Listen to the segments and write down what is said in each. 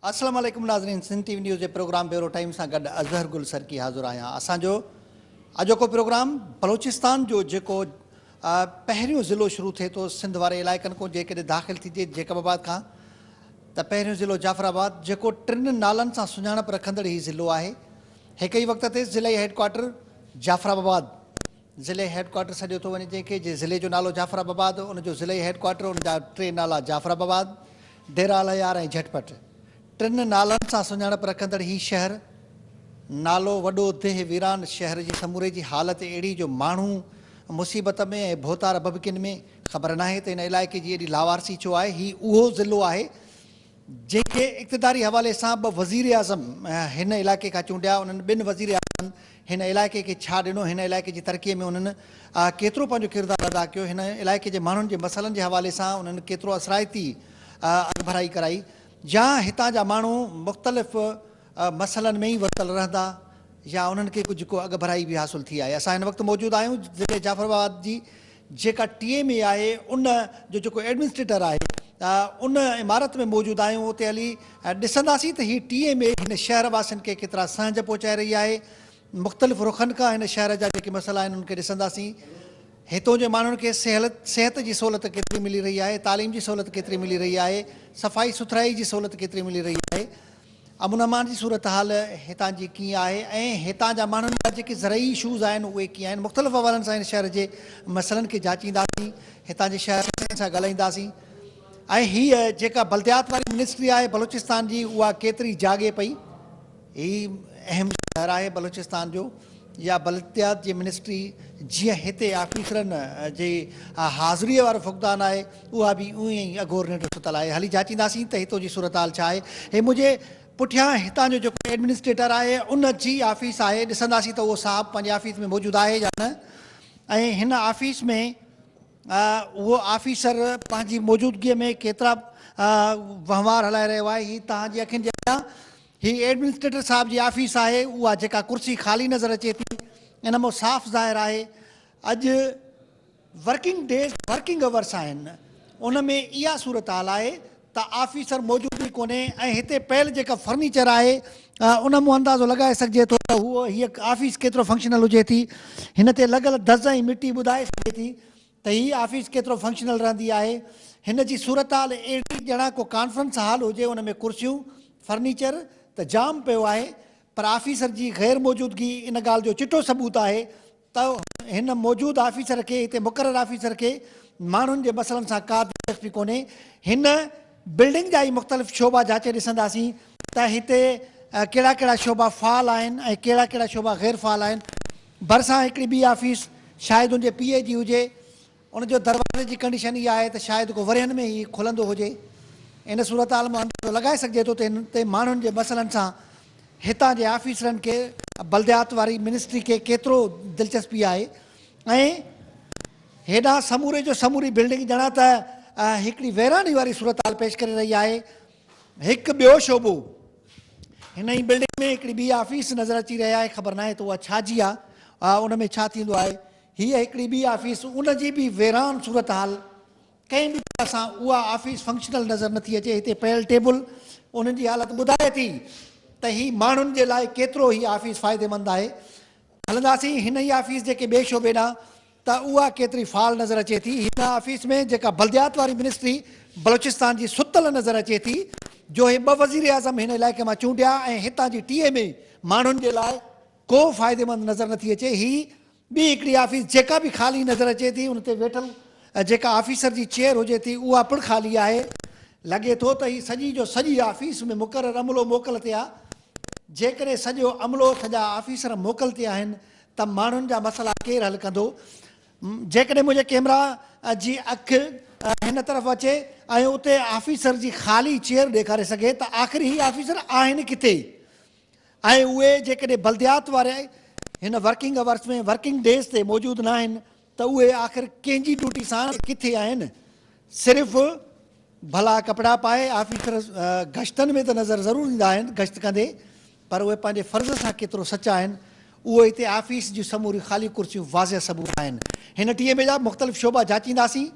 اسلام عليڪم ناظرين سنڌ ٽي وي نيوز جي پروگرام بيورو ٽائيم سان گڏ اظهر گل سرڪي حاضر آهيان اسان جو اڄوڪو پروگرام بلوچستان جو جيڪو پهريون ضلعو شروع ٿئي ٿو سنڌ واري علائقن کان جيڪڏهن داخل ٿيجي جيڪب آباد کان ته پهريون ضلعو جعفر آباد جيڪو ٽن نالن سان سڃاڻپ رکندڙ هي ضلعو آهي هڪ ئي وقت تي ضلعي هيڊ ڪوارٽر جعفر آباد ضلعي هيڊ ڪوارٽر سڏيو ٿو وڃي جنهن کي جي ضلعي جو نالو جعفر آباد ان جو ضلعي هيڊ ڪوارٽر ان جا ٽي نالا جعفر آباد ڊيرا الهيار ۽ جهٽ پٽ ٽن نالن سان سڃاڻپ رکندڙ هي شهر نالو وڏو ديهه ويران شهر جي سموري جي حالت اهڙي جو ماڻهو مصيبت ۾ ۽ ڀوتار ڀڀڪين ۾ خبر ناهي ته هن علائقي جي ايڏي لاوارثي ڇو آهي هي اهو ضلعو آهي جنهن کي اقتداري حوالي سان ٻه وزيراعظم هن علائقي کان چونڊيا، انهن ٻن وزيراعظمن هن علائقي کي ڇا ڏنو، هن علائقي جي ترقي ۾ انهن ڪيترو پنهنجو ڪردار ادا ڪيو، هن علائقي جي ماڻهن جي مسئلن جي حوالي سان انهن ڪيترو اثرائتي اڳڀرائي ڪرائي يا هتان جا ماڻهو مختلف مسئلن ۾ ئي ورتل رهندا يا انهن کي ڪجهه ڪو اڳڀرائي به حاصل ٿي آهي. اسان هن وقت موجود آهيون ضلعي جعفر آباد جي جيڪا ٽي ايم اي آهي ان جو جيڪو ايڊمنسٽريٽر آهي ان عمارت ۾ موجود آهيون اتي هلي ڏسنداسين ته هي ٽي ايم اي هن شهر واسين کي ڪيترا سهنج پهچائي رهي آهي مختلف رخن کان هن شهر جا جيڪي مسئلا آهن انهن کي ڏسنداسين هتون جي ماڻهن کي سهلت صحت جي سهولت ڪيتري ملي رهي آهي تعليم جي سهولت ڪيتري ملي رهي آهي صفائي سٿرائي جي سهولت ڪيتري ملي رهي آهي امن امان جي صورتحال هتان جي ڪيئن آهي ۽ هتان جا ماڻهن لاء جيڪي زرعي اشوز آهن اهي ڪيئن آهن مختلف حوالن سان هن شهر جي مسئلن کي جاچينداسين هتان جي شهر واسين سان ڳالهائينداسين ۽ هيء جيڪا بلديات واري منسٽري آهي بلوچستان جي اها ڪيتري جاڳي پئي هي اهم شهر آهي بلوچستان جو. يا بلدتيات جي منسٽري جيئن هتي آفيسرن جي حاضريء وارو فقدان آهي، اها به ايئن ئي اگهور ننڊ ستل آهي. هلي جاچينداسين ته هتو جي صورتحال ڇا آهي. هي منهنجي پٺيان هتان جو جيڪو ايڊمنسٽريٽر آهي ان جي آفيس آهي. ڏسنداسين ته اهو صاحب پنهنجي آفيس ۾ موجود آهي يا نه ۽ هن آفيس ۾ اهو آفيسر پنهنجي موجودگيء ۾ ڪيترا وهنوار هلائي رهيو آهي. هي توهان جي اکين جي اڳيان هي ايڊمنسٽريٽر صاحب جي آفيس آهي، اها جيڪا ڪرسي خالي نظر اچي ٿي، ان مان صاف ظاهر آهي اڄ ورڪنگ ڊيز ورڪنگ اورس آهن، ان ۾ اها صورتحال آهي ته آفيسر موجود ئي ڪونهي ۽ هتي پيل جيڪا فرنيچر آهي ان مان اندازو لڳائي سگهجي ٿو ته هيء آفيس ڪيترو فنڪشنل هجي ٿي، هن تي لڳل دز ۽ مٽي ٻڌائي سگهي ٿي ته هي آفيس ڪيترو فنڪشنل رهندي آهي. هن جي صورتحال اهڙي ڄڻا ڪو ڪانفرنس هال هجي ان ۾ ڪرسيون، فرنيچر ته جام پيو آهي پر آفيسر جي غير موجودگي ان ڳالهه جو چٽو ثبوت آهي ته هن موجود آفيسر کي هتي مقرر آفيسر کي ماڻهن جي مسئلن سان ڪا دلچسپي ڪونهي هن بلڊنگ جا ئي مختلف شعبا جاچي ڏسنداسين ته هتي ڪهڙا ڪهڙا شعبا فعال آهن ۽ ڪهڙا ڪهڙا شعبا غير فعال آهن. ڀرسان هڪڙي ٻي آفيس شايد ان جي پيء جي هجي. ان جو دروازي جي ڪنڊيشن اها آهي ته شايد ڪو ورهين ۾ ئي کلندو هجي. ان صورتحال مان اندازو لڳائي سگهجي ٿو ته هتي ماڻهن جي مسئلن سان هتان جي آفيسرن کي بلديات واري منسٽري کي ڪيترو دلچسپي آهي. ۽ هيڏانهن سموري جو سموري بلڊنگ ڄڻا ته هڪڙي ويراني واري صورتحال پيش ڪري رهي آهي. هڪ ٻيو شعبو، هن ئي بلڊنگ ۾ هڪڙي ٻي آفيس نظر اچي رهي آهي، خبر ناهي ته اها ڇا جي آهي، ان ۾ ڇا ٿيندو آهي. هيء هڪڙي ٻي آفيس، ان جي به ويران صورتحال، ڪنهن به طرح سان اها آفيس فنڪشنل نظر نٿي اچي، هتي پيل ٽيبل ان جي حالت ٻڌائي ٿي ته هي ماڻهن جي لاء ڪيترو هي آفيس فائديمند آهي، هلنداسين هن ئي آفيس جي ڪنهن ٻئي شعبي ڏانهن ته اها ڪيتري فعال نظر اچي ٿي. هن آفيس ۾ جيڪا بلديات واري منسٽري بلوچستان جي ستل نظر اچي ٿي جو هي ٻه وزيراعظم هن علائقي مان چونڊيا ۽ هتان جي ٽي ايم اي ماڻهن جي لاء ڪو فائديمند نظر نٿي اچي هي ٻي هڪڙي آفيس جيڪا به خالي نظر اچي ٿي ان تي ويٺل جيڪا آفيسر جي چيئر هجي ٿي اها پڻ خالي آهي. لڳي ٿو ته هي سڄي جو سڄي آفيس ۾ مقرر عملو موڪل تي آهي. جيڪڏهن سڄو عملو اٿ جا آفيسر موڪل تي آهن ته ماڻهن جا مسئلا ڪير حل ڪندو؟ جيڪڏهن منهنجي ڪيمرا جي اک هن طرف اچي ۽ اتي آفيسر جي خالي چيئر ڏيکاري سگهي ته آخر هي آفيسر آهن ڪٿي؟ ۽ اهي جيڪڏهن بلديات واري هن ورڪنگ اورس ۾ ورڪنگ ڊيز تي موجود ناهن ته اهي آخر ڪنهن جي ڊوٽي سان ڪٿي آهن؟ صرف ڀلا ڪپڙا پائي آفيسر گشتن ۾ ته نظر ضرور ايندا آهن گشت ڪندي پر اهي پنهنجي فرض سان ڪيترو سچا آهن اهو هتي آفيس جون سموريون خالي ڪرسيون واضح ثبوت آهن هن ٽي ايم اي جا مختلف شعبا جاچينداسين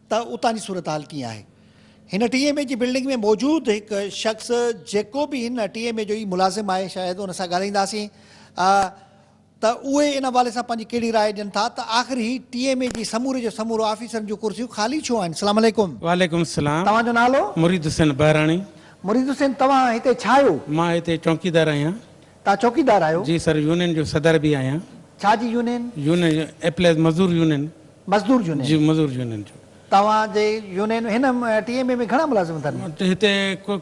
ته اتان جي صورتحال ڪيئن آهي هن ٽي ايم اي جي بلڊنگ ۾ موجود هڪ شخص جيڪو به هن ٽي ايم اي جو ئي ملازم آهي شايد ان سان ڳالهائينداسين ته اهي ان حوالي سان پنهنجي ڪهڙي راء ڏين ٿا ته آخر هي ٽي ايم اي جي سموري جو سمورو آفيسرن جون ڪرسيون خالي ڇو آهن السلام عليڪم. وعليڪم السلام توهان جو نالو؟ مريد حسين بهراڻي. مريد حسين توهان هتي ڇا آهيو؟ مان هتي چونڪيدار آهيان. توهان چوڪيدار آهيو؟ جي سر يونين جو صدر به آهيان. ڇا جي يونين؟ يونين ايپليز مزدور يونين. مزدور يونين؟ جي مزدور يونين جو. توهان جي يونين هن ٽي ايم اي ۾ گهڻا ملازم اٿن؟ هتي ڪو.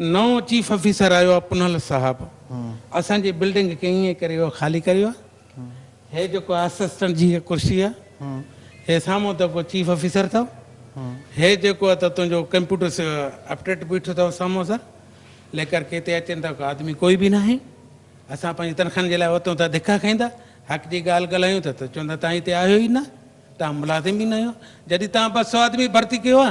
نئون چيف آفيسر آيو آ پنهل صاحب اسان جي بلڊنگ کي ائين ڪري اهو خالي ڪريو آ هي جيڪو اسسٽنٽ جي هي ڪرسي آ هي سامهون ته ڪو چيف آفيسر اٿو هي جيڪو اٿو تنهنجو ڪمپيوٽر اپڊيٽ بيٺو اٿو سامهون سر ليڪر کي هتي اچين ته آدمي ڪوئي به ناهي اسان پنهنجي تنخواهن جي لاء اوتون ته ڌڪا کائيندا حق جي ڳالهه ڳالهايون ته چوندا تان هتي آهيو ئي نه تان ملازم ئي نه آهيو جڏهن تان ٻه سئو آدمي ڀرتي ڪيو آ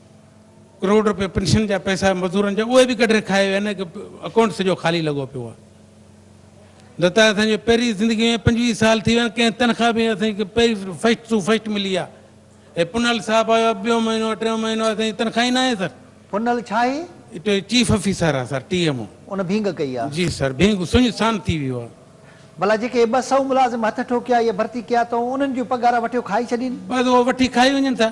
ڪروڙ رپيا پينشن جا پئسا مزورن جا اهي به ڪڍري کائي ويا نه ڪي اڪائونٽ سڄو خالي لڳو پيو آهي دتا اسان جي پهرين زندگي ۾ پنجويهه سال ٿي ويا آهن ڪنهن تنخواه به اسان کي پهرين فسٽ ٽو فسٽ ملي آهي هي پنهل صاحب آيو آهي ٻيو مهينو ٽيون مهينو اسان جي تنخواه ئي ناهي سر پنهل ڇا هي؟ هتي چيف آفيسر آهي سر ٽي ايم او ان ڀينگ ڪئي آهي؟ جي سر ڀينگ سڃ سان ٿي ويو آهي. ڀلا جيڪي هي ٻه سئو ملازم هٿ ٺوڪيا يا ڀرتي ڪيا اٿئون انهن جون پگهارا وٺيو کائي ڇڏين. بس اهي وٺي کائي وڃن ٿا.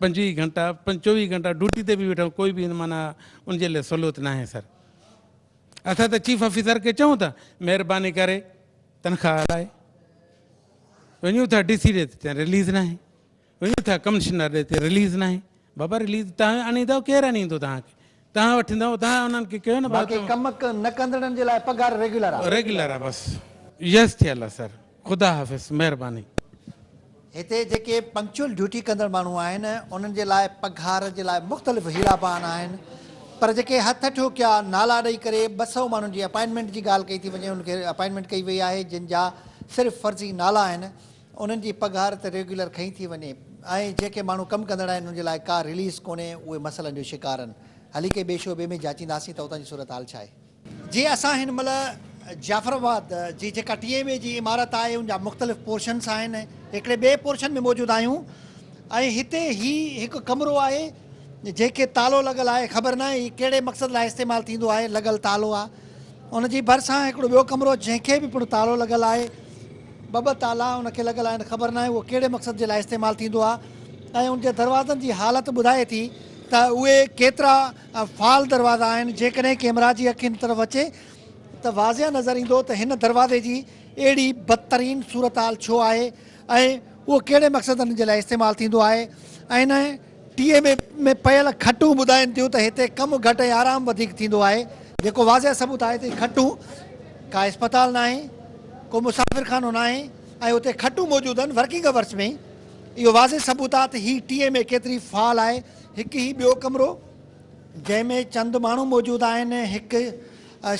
پنجويهه گهنٽا پنج چوويهه گهنٽا ڊوٽي تي به ويٺو ڪوئي به معنيٰ ان جي لاء سھولت ناھي سر اسان ته چيف آفيسر کي چئون ٿا مھرباني ڪري تنخواهه لاء وڃون ٿا ڊي سي ڏي ته رليز ناھي وڃون ٿا ڪمشنر ڏي ته رليز ناھي بابا رليز تان آڻيندو ڪير آڻيندو تان کي تان وٺندؤ تان انهن کي ڪيو نه بس باقي ڪم نه ڪندڙن جي لاء پگهار ريگيولر آ. ريگيولر آ بس يس ٿيل آ سر خدا حافظ مهرباني. هتي جيڪي پنڪچوئل ڊيوٽي ڪندڙ ماڻهو آهن انهن جي لاء پگهار جي لاء مختلف حيلا بهانا آهن پر جيڪي هٿ ٺوڪيا نالا ڏئي ڪري ٻه سئو ماڻهن جي اپائنٽمينٽ جي ڳالهه ڪئي ٿي وڃي انهن کي اپائنٽمينٽ ڪئي وئي آهي جن جا صرف فرضي نالا آهن انهن جي پگهار ته ريگيولر کنئي ٿي وڃي ۽ جيڪي ماڻهو ڪم ڪندڙ آهن انهن جي لاء ڪا رليز ڪونهي اهي مسئلن جو شڪار آهن هلي ڪي ٻئي شعبي ۾ جاچينداسين ته اتان جي صورتحال ڇا آهي. جي اسان هن مهل جعفر آباد جي جيڪا ٽي ايم اي جي عمارت آهي ان جا مختلف پورشنس آهن هڪڙي ٻئي پورشن ۾ موجود آهيون ۽ هتي هي هڪ ڪمرو آهي جنهن کي تالو لڳل آهي خبر ناهي هي ڪهڙي مقصد لاء استعمال ٿيندو آهي لڳل تالو آ ان جي ڀرسان هڪڙو ٻيو ڪمرو جنهن کي به پڻ تالو لڳل آهي ٻه ٻه تالا ان کي لڳل آهن خبر ناهي اهو ڪهڙي مقصد جي لاء استعمال ٿيندو آ ۽ ان جي دروازن جي حالت ٻڌائي ٿي ته اهي ڪيترا فعال دروازا آهن جيڪڏهن ڪيمرا جي اک ان طرف اچي ته واضح نظر ايندو ته هن دروازي جي اهڙي بدترين صورتحال ڇو آهي ۽ اهو ڪهڙي مقصدن جي لاء استعمال ٿيندو آهي ۽ ان ٽي ايم اي ۾ پيل کٽون ٻڌائين ٿيون ته هتي ڪم گهٽ ۽ آرام وڌيڪ ٿيندو آهي جيڪو واضح ثبوت آهي ته هي کٽون ڪا اسپتال ناهي ڪو مسافر خانو ناهي ۽ اتي کٽون موجود آهن ورڪنگ اورس ۾ اهو واضح ثبوت آهي ته هي ٽي ايم اي ڪيتري فعال آهي هڪ هي ٻيو ڪمرو جنهن ۾ چند ماڻهو موجود آهن هڪ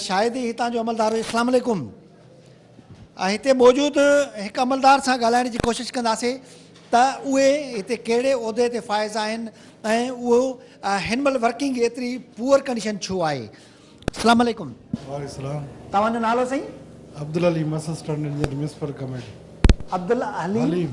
شايد ئي هتان جو عملدار هجي اسلام عليڪم. هتي موجود هڪ عملدار سان ڳالهائڻ جي ڪوشش ڪنداسين ته اهي هتي ڪهڙي عهدي تي فائز آهن ۽ اهو هن مهل ورڪنگ ايتري پوئر ڪنڊيشن ڇو آهي. اسلام عليڪم. وعليڪم السلام. توهان جو نالو سائين. Abdul Haleem assistant engineer municipal committee. Abdul Haleem.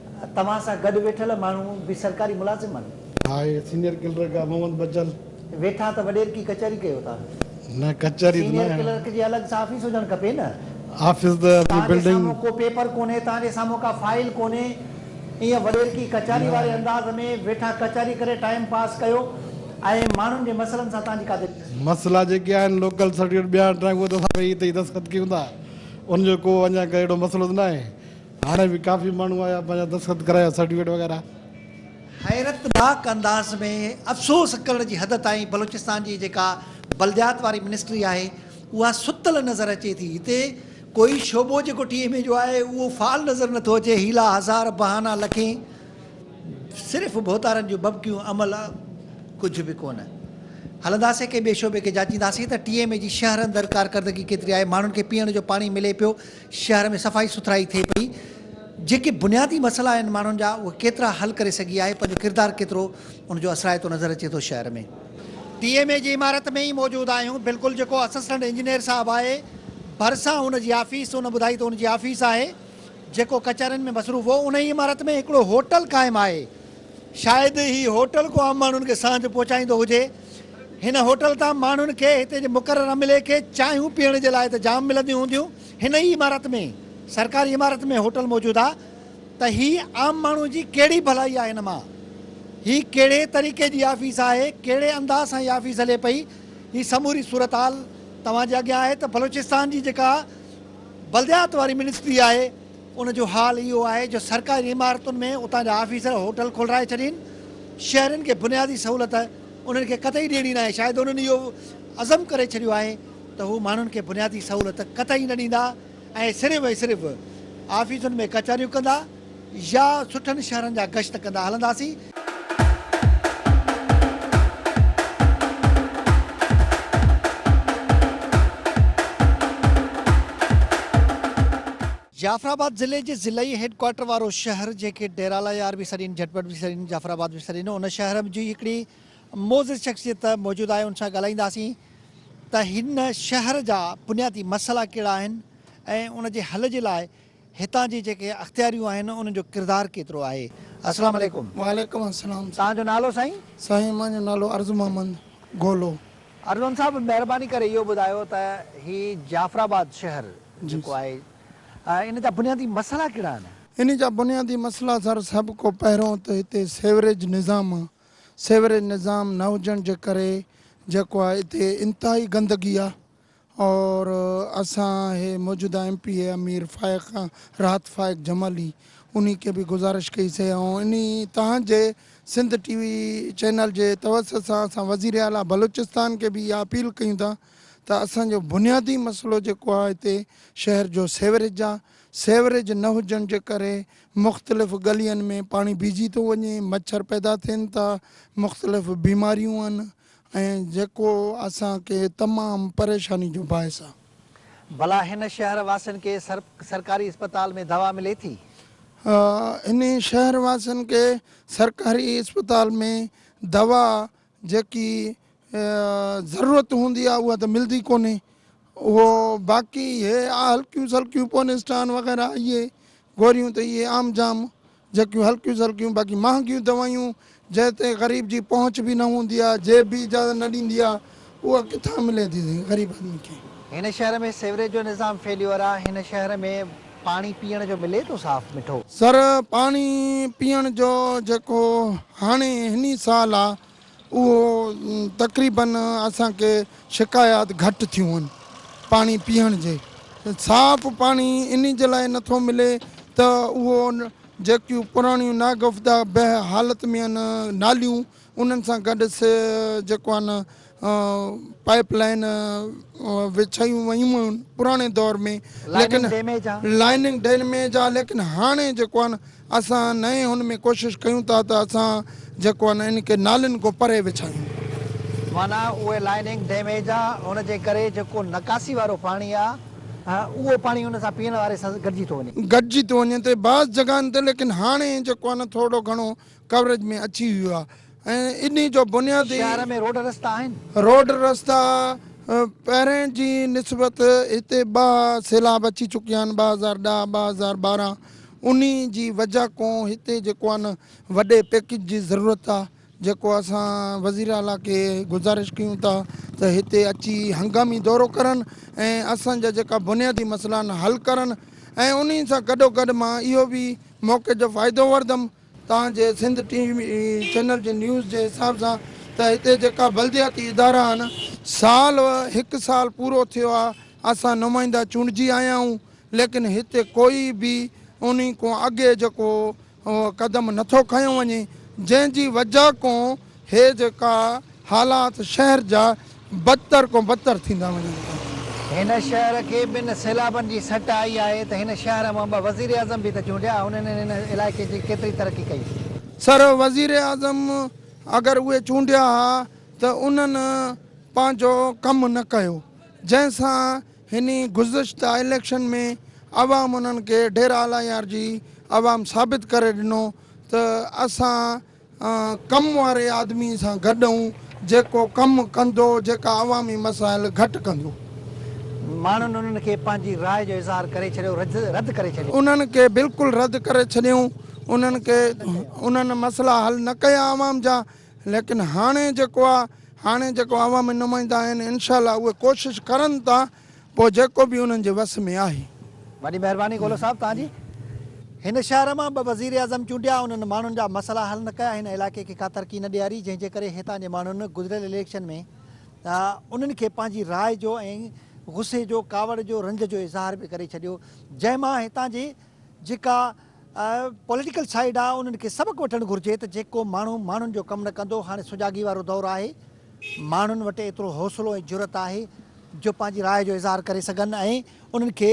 توهان سان گڏ ويٺل ماڻهو به سرڪاري ملازم آهن. آء سينيئر ڪلرڪ آء محمد بچل. ويٺا ته وڏيرڪي ڪچهري ڪيو ٿا. نه ڪچهري ته نه. سينيئر ڪلرڪ جي الڳ سان آفيس هجڻ کپي نه. آفيس ته بلڊنگ. توهان جي سامهون ڪو پيپر ڪونهي، توهان جي سامهون ڪا فائل ڪونهي، ايئن وڏيرڪي ڪچهري واري انداز ۾ ويٺا ڪچهري ڪري ٽائيم پاس ڪيو ۽ ماڻهن جي مسئلن سان توهان جي ڪا دلچسپي. مسئلا جيڪي آهن لوڪل سرٽيفڪيٽ ٻيا هٽرائي اهي ته اسان ويهي هتي ئي دستخط ڪيون ٿا، ان جو ڪو اڃا ڪا اهڙو مسئلو ته ناهي. هاڻي به ڪافي ماڻهو آيا پنهنجا دستخط ڪرايا سرٽيفڪيٽ وغيره. حيرتناڪ انداز ۾ افسوس ڪرڻ جي حد تائين بلوچستان جي جيڪا بلديات واري منسٽري آهي اها ستل نظر اچي ٿي هتي ڪوئي شعبو جيڪو ٽي ايم اي جو آهي اهو فعال نظر نٿو اچي حيلا هزار بهانا لکين صرف ڀوتارن جون ببڪيون عمل ڪجهه به ڪونه هلنداسين ڪنهن ٻئي شعبي کي جاچينداسين ته ٽي ايم اي جي شهر اندر ڪارڪردگي ڪيتري آهي ماڻهن کي پيئڻ جو پاڻي ملي پيو شهر ۾ صفائي سٿرائي ٿئي پئي، جيڪي بنيادي مسئلا آهن ماڻهن جا اهي ڪيترا حل ڪري سگهي آهي، پنهنجو ڪردار ڪيترو ان جو اثرائتو نظر اچي ٿو شهر ۾. ڊي ايم اي جي عمارت ۾ ئي موجود آهيون، بلڪل جيڪو اسسٽنٽ انجنيئر صاحب آهي ڀرسان ان جي آفيس، ان ٻڌائي ته ان جي آفيس آهي، جيڪو ڪچهرين ۾ مصروف هو، ان ئي عمارت ۾ هڪڙو هوٽل قائم آهي، شايد هي هوٽل ڪو عام ماڻهن کي سانجهه پهچائيندو هجي. هن هوٽل تان ماڻهن کي هتي جي مقرر عملي کي چانهيون پيئڻ جي لاء ته جام ملنديون هونديون، هن ئي عمارت ۾، سرڪاري عمارت ۾ هوٽل موجود آ ته هي عام ماڻهو جي ڪهڙي ڀلائي آ هن مان؟ هي ڪهڙي طريقي جي آفيس آهي، ڪهڙي انداز سان هي آفيس هلي پئي، هي سموري صورتحال توهان جي اڳيان آهي ته بلوچستان جي جيڪا بلديات واري منسٽري آهي ان جو حال اهو آهي جو سرڪاري عمارتن ۾ اتان جا آفيسر هوٽل کولرائي ڇڏين. شهرين کي بنيادي سهولت انهن کي قطعي ڏيڻي ناهي. شايد انهن اهو عزم ڪري ڇڏيو آهي ته هو ماڻهن کي بنيادي سهولت قطعي نه ڏيندا ۽ صرف ۽ صرف آفيسن ۾ ڪچهريون ڪندا يا سٺن شهرن جا گشت ڪندا هلنداسين. جعفر آباد ضلعي جي ضلعي هيڊ ڪوارٽر وارو شهر جنهن کي ڊيرالا يار به سڏين جهٽ پٽ به سڏين جعفر آباد به سڏين ان شهر جي هڪڙي معزز شخصيت موجود آهي ان سان ڳالهائينداسين ته هن شهر جا بنيادي مسئلا ڪهڙا آهن ۽ ان جي حل جي لاء هتان جي جيڪي اختياريون آهن ان جو ڪردار ڪيترو آهي السلام عليڪم. وعليڪم السلام سائين. تهان جو نالو سائين؟ سائين مان جو نالو ارزو محمد گولو. ارزون صاحب مهرباني ڪري اهو ٻڌايو ته هي جعفر آباد شهر جيڪو آهي ان جا بنيادي مسئلا ڪهڙا آهن؟ ان جا بنيادي مسئلا سر سڀ کان پهريون ته هتي سيوريج نظام آهي سيوريج نظام نه هجڻ جي ڪري جيڪو آهي هتي انتهائي گندگي آهي اور اسان هي موجوده M P A Amir Faiq Rahat Faiq Jamali انهي کي به گذارش ڪئي سي ۽ انهي تهان جي سنڌ ٽي وي چينل جي توسط سان اسان وزير اعليٰ بلوچستان کي به اها اپيل ڪيون ٿا ته اسان جو بنيادي مسئلو جيڪو آهي هتي شهر جو سيوريج آهي سيوريج نه هجڻ جي ڪري مختلف ڳلين ۾ پاڻي بيهجي ٿو وڃي مڇر پيدا ٿين ٿا مختلف بيماريون آهن ۽ جيڪو اسان کي تمام پريشاني جو باعث آ. ڀلا هن شهر واسين کي سرڪاري اسپتال ۾ دوا ملي ٿي؟ آ هن شهر واسين کي سرڪاري اسپتال ۾ دوا جيڪي ضرورت هوندي آ اها ته ملدي ڪونهي اهو باقي هي آ هلڪيون سلڪيون پونيسٽان وغيره اهي گوريون ته اهي عام جام جهڪيون هلڪيون سلڪيون باقي مهانگيون دوائيون جنهن تي غريب جي پهچ به نه هوندي آهي جيب به اجازت نه ڏيندي آهي اها ڪٿان ملي ٿي سائين غريب آدمي کي. هن شهر ۾ سيوريج جو نظام فيليور آ هن شهر ۾ پاڻي پيئڻ جو ملي ٿو صاف مٺو. سر پاڻي پيئڻ جو جيڪو هاڻي هني سال آ اهو تقريباً اسان کي شڪايات گهٽ ٿيون هن پاڻي پيئڻ جي صاف پاڻي انهي جي لاء نٿو ملي ته اهو جيڪيون پراڻيون ناگفتگه به حالت ۾ هن ناليون انهن سان گڏ سي جيڪو هن پائپ لائين وڇايون ويون هن پراڻي دور ۾ ليڪن لائننگ ڊيميج آ ليڪن هاڻي جيڪو هن اسان نئين هن ۾ ڪوشش ڪيون ٿا ته اسان جيڪو آهن ان کي نالين کان پري وڇايون. معنيٰ اهي لائننگ ڊيميج آ ان جي ڪري جيڪو نڪاسي وارو پاڻي آ اهو پاڻي ان سان پيئڻ واري سان گڏجي ٿو وڃي. گڏجي ٿو وڃي ته بعض جڳهن تي ليڪن هاڻي جيڪو آهي نه ٿورڙو گهڻو ڪوريج ۾ اچي ويو آ ۽ انهي جو بنيادي. شهر ۾ روڊ رستا آهن. روڊ رستا پهرين جي نسبت هتي ٻه سيلاب اچي چڪيا آهن، ٻه هزار ڏهه، ٻه هزار ٻارهن، انهي جي وجه ڪون هتي جيڪو آهي نه وڏي پيڪج جي ضرورت آهي، جيڪو اسان وزير اعليٰ کي گذارش ڪيون ٿا ته هتي اچي هنگامي دورو ڪرن ۽ اسان جا جيڪا بنيادي مسئلا آهن حل ڪرن ۽ انهي سان گڏوگڏ مان اهو به موقعي جو فائدو وردم تان جي سنڌ ٽي وي چينل جي نيوز جي حساب سان ته هتي جيڪا بلدياتي ادارا آهن سال هڪ سال پورو ٿيو آهي اسان نمائندا چونڊجي آيا آهيون ليڪن هتي ڪوئي به انهي کون اڳي جيڪو قدم نٿو کنيو وڃي جنهن جي وجه کون هي جيڪا حالات شهر جا بدتر ڪون بدتر ٿيندا وڃن ٿا. هن شهر کي ٻن سيلابن جي سٽ آئي آهي ته هن شهر مان ٻه وزيراعظم به ته چونڊيا هن انهن هن علائقي جي ڪيتري ترقي ڪئي. سر وزيراعظم اگر اهي چونڊيا ها ته انهن پنهنجو ڪم نه ڪيو جنهن سان هن گذشته اليڪشن ۾ عوام انهن کي ڍيرا الايار جي عوام ثابت ڪري ڏنو ته اسان ڪم واري آدمي سان گڏ هون جيڪو ڪم ڪندو جيڪا عوامي مسائل گهٽ ڪندو. ماڻهن انهن کي پنهنجي راء جو اظهار ڪري ڇڏيو رد ڪري ڇڏيو. انهن کي بلڪل رد ڪري ڇڏيائون انهن کي انهن مسئلا حل نه ڪيا عوام جا ليڪن هاڻي جيڪو آ هاڻي جيڪو عوامي نمائندا آهن انشاء الله اهي ڪوشش ڪرن ٿا پوء جيڪو به انهن جي وس ۾ آهي. وڏي مهرباني گولو صاحب توهان جي. هن شهر مان ٻه وزيراعظم چونڊيا انهن ماڻهن جا مسئلا حل نه ڪيا هن علائقي کي ڪا ترقي نه ڏياري جنهن جي ڪري هتان جي ماڻهن گذريل اليڪشن ۾ انهن کي پنهنجي راء جو ۽ غصي جو ڪاوڙ جو رنج جو اظهار به ڪري ڇڏيو جنهن مان هتان جي جيڪا پوليٽيڪل سائيڊ آ انهن کي سبق وٺڻ گهرجي ته جيڪو ماڻهو ماڻهن جو ڪم نه ڪندو هاڻي سجاڳي وارو دور آهي ماڻهن وٽ ايترو حوصلو ۽ جرئت آهي جو پنهنجي راء جو اظهار ڪري سگهن ۽ انهن کي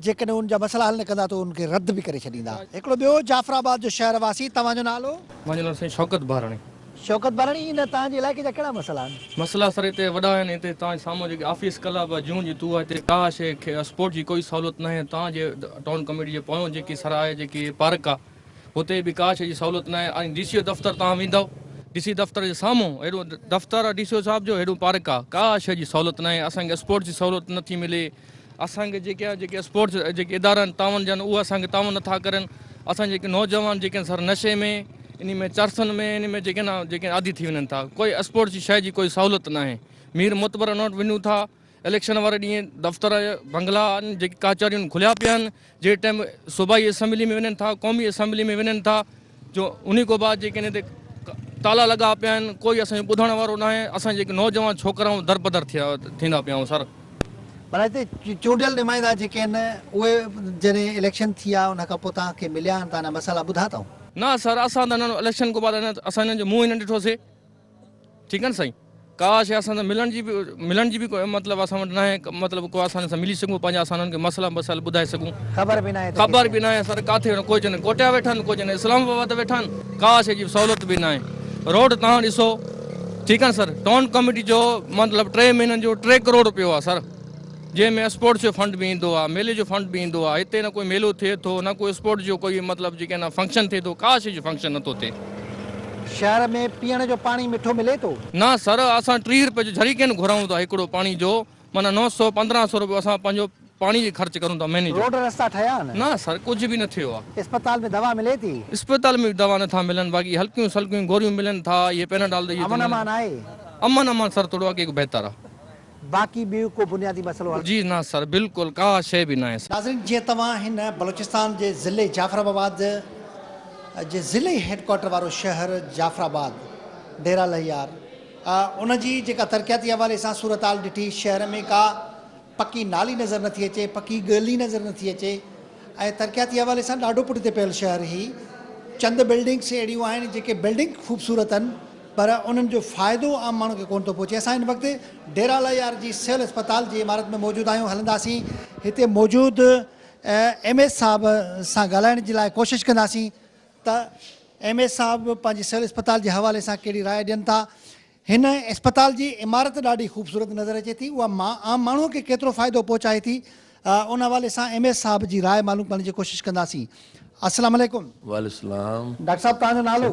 جيڪڏهن انهن جا مسئلا حل نه ڪندا ته انهن کي رد به ڪري ڇڏيندا. هڪڙو ٻيو جعفر آباد جو شهر واسي توهان جو نالو؟ منهنجو نالو سائين شوڪت ٻاراڻي. شوڪت ٻاراڻي جي نه توهان جي علائقي جا ڪهڙا مسئلا آهن؟ مسئلا سر هتي وڏا آهن هتي توهان جي سامهون جيڪي آفيس ڪلب جون جي توها هتي ڪا شي اسپورٽ جي ڪوئي سهولت ناهي توهان جي ٽائون ڪميٽي جي پويون جيڪي سر آهي جيڪي پارڪ آ هتي به ڪا شي جي سهولت ناهي ۽ ڊي سي او دفتر توهان ويندو ڊي سي دفتر جي سامهون هيڏو دفتر آ ڊي سي او صاحب جو هيڏو پارڪ آ ڪا شي جي سهولت ناهي اسان کي اسپورٽ جي سهولت نٿي ملي. اسان کي جيڪي آهي جيڪي اسپورٽس جيڪي ادارا آهن تعاون جا آهن اهي اسان کي تعاون نٿا ڪرن اسان جيڪي نوجوان جيڪي آهن سر نشي ۾ ان ۾ چرسن ۾ ان ۾ جيڪي آهن جيڪي عادي ٿي وڃن ٿا ڪوئي اسپورٽس جي شيء جي ڪوئي سهولت نه آهي مير معتبر ان وٽ وڃون ٿا اليڪشن واري ڏينهن دفتر بنگلا جيڪي ڪاچاريون کليا پيا آهن جهڙي ٽائيم صوبائي اسيمبلي ۾ وڃن ٿا قومي اسيمبلي ۾ وڃن ٿا جو انهي کان بعد جيڪي هن تي تالا لڳا پيا آهن ڪوئي اسان جو ٻڌڻ وارو نه آهي اسان جيڪي نوجوان ڇوڪرائون درپدر ٿيا ٿيندا پيا آهيون سر. ڀلا هتي چونڊيل نمائندا جيڪي آهن اهي جڏهن اليڪشن ٿي آ ان کان پوء توهان کي مليا آهن توهان انهن جا مسئلا ٻڌا اٿئون؟ نه سر اسان ته انهن اليڪشن کان بعد اسان انهن جو منهن ئي نه ڏٺو سي. ٺيڪ آھن سائين ڪاش اسان سان ملڻ جي به ملڻ جي به مطلب اسان وٽ ناھي مطلب ڪو اسان سان ملي سگھون پنھنجا اسان انھن کي مسئلا مسائل ٻڌائي سگھون خبر به ناھي خبر به ناھي سر ڪاٿي ڪو چون ڪوٽيا ويٺا آھن ڪو چون اسلام آباد ويٺا آھن ڪاش اھڙي سھولت به ناھي روڊ تھان ڏسو ٺيڪ آھن سر ٽون ڪميٽي جو مطلب ٽي مھينن جو ٽي ڪروڙ روپيو آھي سر جنهن ۾ اسپورٽس جو فنڊ به ايندو آ ميلي جو فنڊ به ايندو آ هتي نه ڪوئي ميلو ٿئي ٿو نه ڪوئي اسپورٽس جو ڪوئي مطلب جيڪي نه فنڪشن ٿئي ٿو ڪا شي جو فنڪشن نٿو ٿئي. شهر ۾ پيئڻ جو پاڻي مٺو ملي ٿو؟ نه سر اسان ٽيهه رپئي جو جھريڪين گھرائون ٿا هڪڙو پاڻي جو معنيٰ نو سو پندرهن سو رپيو اسان پنهنجو پاڻي جي خرچ ڪرون ٿا مهيني جو. روڊ رستا ٺهيا آهن؟ نه سر ڪجھ به نه ٿيو آ. اسپتال ۾ دوا ملي ٿي؟ اسپتال ۾ به دوا نٿا ملن باقي هلڪيون سلڪيون گوريون ملن ٿا اهي پيناڊال ڏئي ٿو امن ملن. امان آهي؟ امن امان سر ٿورو اڳي کان بهتر آ. باقي ٻيو ڪو بنيادي مسئلو حل. جي نه سر بلڪل ڪا شيء به ناهي سر. ناظرين جيئن توهان هن بلوچستان جي ضلعي جعفر آباد جي ضلعي هيڊ ڪوارٽر وارو شهر جعفر آباد ڊيرا لهيار ان جي جيڪا ترقياتي حوالي سان صورتحال ڏٺي شهر ۾ ڪا پڪي نالي نظر نٿي اچي پڪي ڳلي نظر نٿي اچي ۽ ترقياتي حوالي سان ڏاڍو پٺتي پيل شهر هي چند بلڊنگس اهڙيون آهن جيڪي بلڊنگ خوبصورت آهن پر انهن جو فائدو عام ماڻهو کي ڪونه ٿو پهچي، اسان هن وقت ڊيرالائي آر جي سول اسپتال جي عمارت ۾ موجود آهيون، هلنداسين هتي موجود ايم ايس صاحب سان ڳالهائڻ جي لاء ڪوشش ڪنداسين ته ايم ايس صاحب پنهنجي سول اسپتال جي حوالي سان ڪهڙي راء ڏين ٿا، هن اسپتال جي عمارت ڏاڍي خوبصورت نظر اچي ٿي اها عام ماڻهو کي ڪيترو فائدو پهچائي ٿي ان حوالي سان ايم ايس صاحب جي راء معلوم ڪرڻ جي ڪوشش ڪنداسين، السلام عليڪم. وعليڪم السلام. ڊاڪٽر صاحب توهان جو نالو؟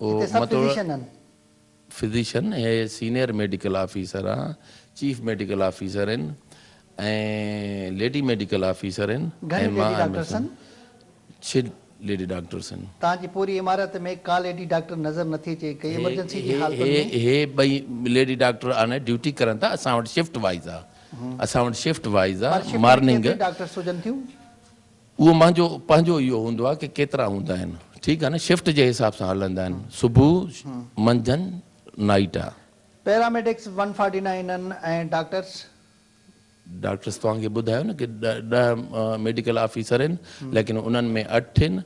جتي سڀ فزيشن آهن. فزيشن هي سينيئر ميڊيڪل آفيسر آهن، چيف ميڊيڪل آفيسر آهن ۽ ليڊي ميڊيڪل آفيسر آهن ۽ مان آهيان ڇهه ليڊي ڊاڪٽرس آهن. توهان جي پوري عمارت ۾ ڪا ليڊي ڊاڪٽر نظر نٿي اچي ڪي ايمرجنسي جي حالتن ۾. هي ٻئي ليڊي ڊاڪٽر آن ڊيوٽي ڪرن ٿا اسان وٽ شفٽ وائيز آهي اسان وٽ شفٽ وائيز آهي مارننگ. پر شفٽ ۾ ڪيتريون ڊاڪٽرس هجن ٿيون. اهو منهنجو پنهنجو اهو هوندو آهي ڪي ڪيترا هوندا آهن ٺيڪ آهي نه شفٽ جي حساب سان هلندا آهن صبح منجهند نائيٽ آهي. Paramedics one forty nine and doctors. Doctors توهان کي ٻڌايو نه ڪي ڏهه ميڊيڪل آفيسر ائن ليڪن انهن ۾ اٺ ائن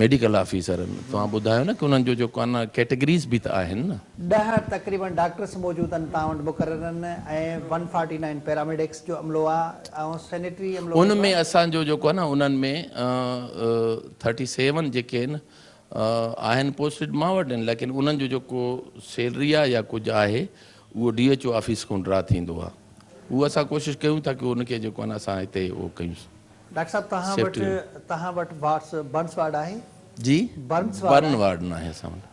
ميڊيڪل آفيسر ائن توهان ٻڌايو نه ڪي انهن جو جو ڪان ڪيٽيگريز به ته آهن نه. ڏهه تقريبن ڊاڪٽرس موجود ائن توهان وٽ مقرر and and one forty nine paramedics جو عملو آهي ان ۾ اسان جو جيڪو آهي نه انهن ۾ ٿرٽي سيون جيڪي آهن آهن پوسٽيڊ مان وٽ آهن ليڪن انهن جو جيڪو سيلري آهي يا ڪجهه آهي اهو ڊي ايڇ او آفيس کان ڊرا ٿيندو آهي اهو اسان ڪوشش ڪيون ٿا ڪيون ان کي جيڪو آهي نه اسان هتي اهو ڪيون. ڊاڪٽر صاحب توهان وٽ توهان وٽ وارڊس برنس وارڊ آهي؟ جي برنس وارڊ ناهي اسان وٽ.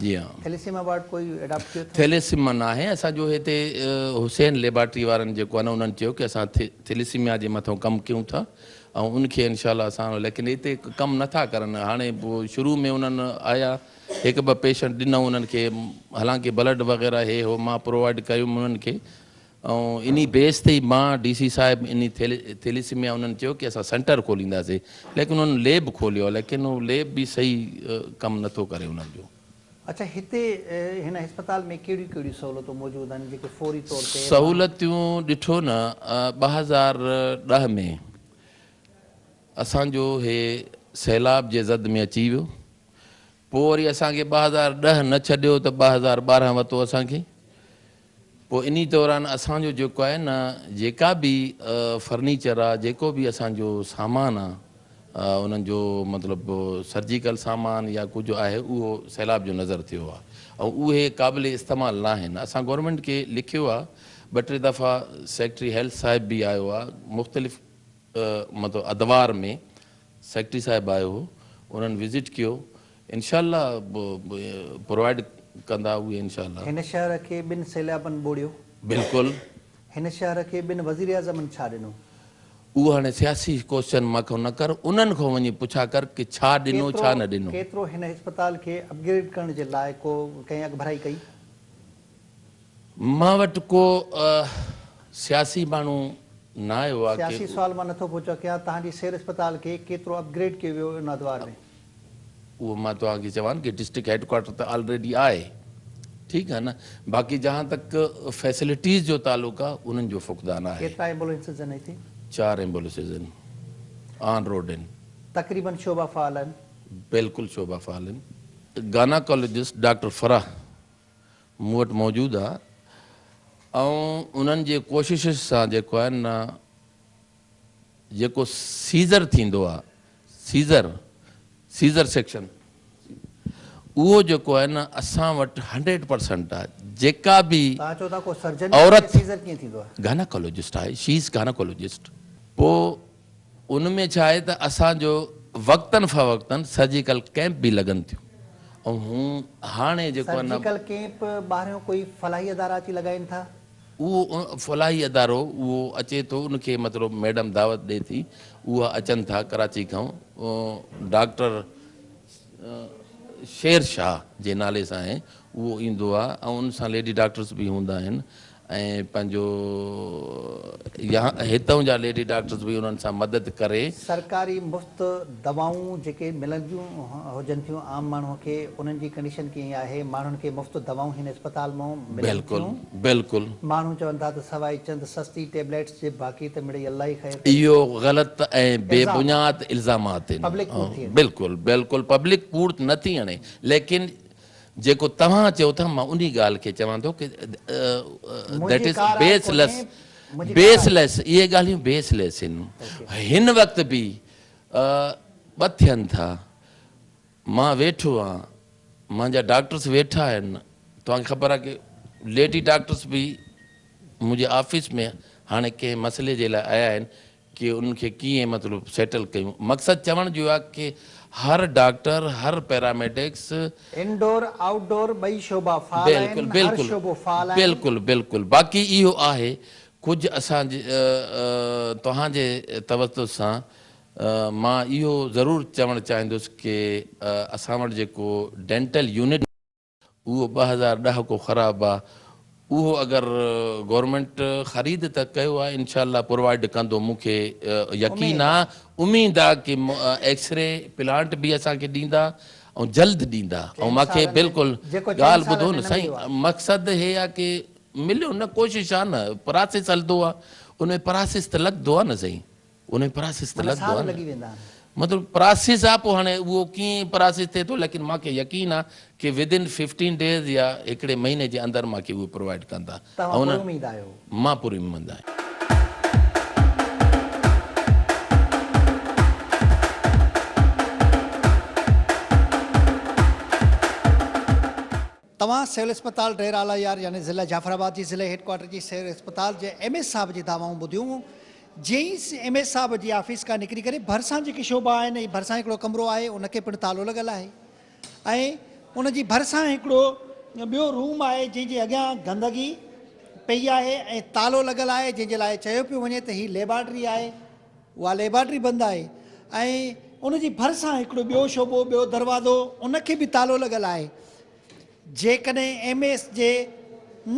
جي ھان. ٿيليسيما وارڊ ڪوئي اڊاپٽ ڪيو اٿئو؟ ٿيليسيما ناھي اسان جو ھتي حسين ليبارٽري وارن جيڪو آھي نه انھن چيو ڪي اسان ٿيليسيميا جي مٿئون ڪم ڪيون ٿا ۽ ان کي انشاء الله اسان ليڪن ھتي ڪم نه ٿا ڪرن ھاڻي شروع ۾ انھن آيا ھڪ ٻه پيشنٽ ڏنئون انھن کي حالانڪه بلڊ وغيره ھي ھو مان پرووائيڊ ڪيم انھن کي ۽ انهي بيس تي ئي مان ڊي سي صاحب انهي ٿيليسيميا انهن چيو ڪي اسان سينٽر کولينداسي ليڪن انهن ليب کوليو ليڪن هو ليب به صحيح ڪم نٿو ڪري انهن جو. اڇا هتي هن هسپتال ۾ ڪهڙيون ڪهڙيون سهولتون موجود آهن جيڪي فوري طور تي ماڻهو. سهولتون ڏٺو نه ٻه هزار ڏهه ۾ اسان جو هي سيلاب جي زد ۾ اچي ويو پوء وري اسان کي ٻه هزار ڏهه نه ڇڏيو ته ٻه هزار ٻارهن وتو اسان کي پوء انهي دوران اسان جو جيڪو آهي نه جيڪا به فرنيچر آ جيڪو به اسان جو سامان آ انهن جو مطلب سرجيڪل سامان يا ڪجهه آهي اهو سيلاب جو نظر ٿيو آ ۽ اهي قابل استعمال ناهن اسان گورنمينٽ کي لکيو آ ٻه ٽي دفعا سيڪريٽري هيلٿ صاحب به آيو آ مختلف مطلب ادوار ۾ سيڪريٽري صاحب آيو هو انهن وزٽ ڪيو انشاء الله پرووائيڊ ڪندا اهي انشاء الله. هن شهر کي ٻن سيلابن ٻوڙيو. بلڪل. هن شهر کي ٻن وزيراعظمن ڇا ڏنو؟ اهو هاڻي سياسي ڪوسچن مان کان نه ڪر انهن کان وڃي پڇا ڪر ڪي ڇا ڏنو ڇا نه ڏنو. ڪيترو هن اسپتال کي اپگريڊ ڪرڻ جي لاء ڪو ڪنهن اڳڀرائي ڪئي؟ مان وٽ ڪو سياسي ماڻهو نه آيو آ سياسي سوال مان نٿو پڇان ڪيان توهان جي سير اسپتال کي ڪيترو اپ گريڊ ڪيو ويو ان ادوار ۾؟ اهو مان توهان کي چوان ڪي ڊسٽرڪٽ هيڊ ڪوارٽر ته آلريڊي آهي ٺيڪ آهي نه باقي جهان تڪ فيسلٽيز جو تعلق آ انهن جو فقدان آهي. ڪيترا ايمبولينسز آهن هتي؟ چار ايمبوليسز آهن آن روڊ آهن. تقريبن شعبا فعال آهن؟ بلڪل شعبا فعال آهن. گاناڪالوجسٽ ڊاڪٽر فرح مون وٽ موجود آ ۽ انهن جي ڪوششس سان جيڪو آهي نه جيڪو سيزر ٿيندو آ سيزر سيزر سيڪشن اهو جيڪو آهي نه اسان وٽ هنڊريڊ پرسنٽ آ جيڪا به عورت گاناڪولوجسٽ آهي شي از گاناڪولوجسٽ پوء ان ۾ ڇا آهي ته اسان جو وقتن فوقتن سرجيڪل ڪئمپ به لڳن ٿيون ۽ هون هاڻي جيڪو ان. سرجيڪل ڪئمپ ٻاهريون ڪوئي فلاحي ادارا اچي لڳائين ٿا؟ اهو فلاحي ادارو اهو اچي ٿو ان کي مطلب ميڊم دعوت ڏي ٿي اها اچن ٿا ڪراچي کان ڊاڪٽر شير شاهه جي نالي سان آهي اهو ايندو آهي ۽ ان سان ليڊي ڊاڪٽرس به هوندا آهن ۽ پنهنجو يا هتئون جا ليڊي ڊاڪٽرز به انهن سان مدد ڪري. سرڪاري مفت دوائون جيڪي ملنديون هجن ٿيون عام ماڻهو کي انهن جي ڪنڊيشن ڪيئن آهي؟ ماڻهن کي مفت دوائون هن اسپتال مئون ملن ٿيون؟ بلڪل بلڪل. ماڻهو چون ٿا ته سواء چند سستي ٽيبليٽس جي باقي ته مڙئي الله ئي خير ڪري. اهو غلط ۽ بي بنياد الزامات الزامات آهن. پبلڪ ڪوڙ ٿي اڻي. بلڪل بلڪل پبلڪ ڪوڙ نه ٿي اڻي ليڪن جيڪو توهان چئو ٿا مان انهي ڳالهه کي چوان ٿو ڪه That is baseless Baseless اهي ڳالهيون Baseless آهن هن وقت به ٻه ٿين ٿا مان ويٺو آهيان مانجا ڊاڪٽرس ويٺا آهن توهان کي خبر آهي ڪه ليڊي ڊاڪٽرس به منهنجي آفيس ۾ هاڻي ڪنهن مسئلي جي لاء آيا آهن ڪي انهن کي ڪيئن مطلب سيٽل ڪيون مقصد چوڻ جو اهو آهي ڪي هر ڊاڪٽر هر پيراميڊڪس. انڊور آئوٽ ڊور ٻئي شعبا فعال آهن بلڪل هر بلڪل شعبو فعال آهن. بلڪل بلڪل باقي اهو آهي ڪجهه اسان جي توهان جي توجه سان مان اهو ضرور چوڻ چاهيندس ڪي اسان وٽ جيڪو ڊينٽل يونٽ. اهو ٻه هزار ڏهاڪو خراب آ اهو اگر گورنمينٽ خريد ته ڪيو آ انشاء الله پرووائيڊ ڪندو مون کي يقين آ اميد آ ڪي ايڪسري پلانٽ به اسان کي ڏيندا ۽ جلد ڏيندا ۽ مان کي بلڪل ڳالهه ٻڌو نه سائين مقصد هي آ ڪي مليو نه ڪوشش آ نه پراسيس هلدو آ ان ۾ پراسيس ته لڳدو آ نه سائين. انهي پراسيس تي لڳندو آهي نه مطلب پراسيس آهي پوء هاڻي اهو ڪيئن پراسيس ٿئي ٿو ليڪن مانکي يقين آهي ڪي ودن ففٽين ڊيز يا هڪڙي مهيني جي اندر مانکي اهي پرووائيڊ ڪندا توهان پر اميد آهيو. مان پر اميد آهيان. توهان سول اسپتال ڊير اعليٰ يار يعني ضلع جعفر آباد جي ضلعي هيڊ ڪوارٽر جي سول اسپتال جي ايم ايس صاحب جي دعوائون ٻڌيون جي ايم ايس صاحب جي آفيس کان نڪري ڪري ڀرسان جيڪي شعبا آهن ۽ ڀرسان هڪڙو ڪمرو آهي ان کي پڻ تالو لڳل آهي ۽ ان جي ڀرسان هڪڙو ٻيو روم آهي جنهن جي اڳيان گندگي پئي آهي ۽ تالو لڳل آهي جنهن جي لاء چيو پيو وڃي ته هي ليبارٽري آهي اها ليبارٽري بند آهي ۽ ان جي ڀرسان هڪڙو ٻيو شعبو، ٻيو دروازو، ان کي به تالو لڳل آهي. جيڪڏهن ايم ايس جي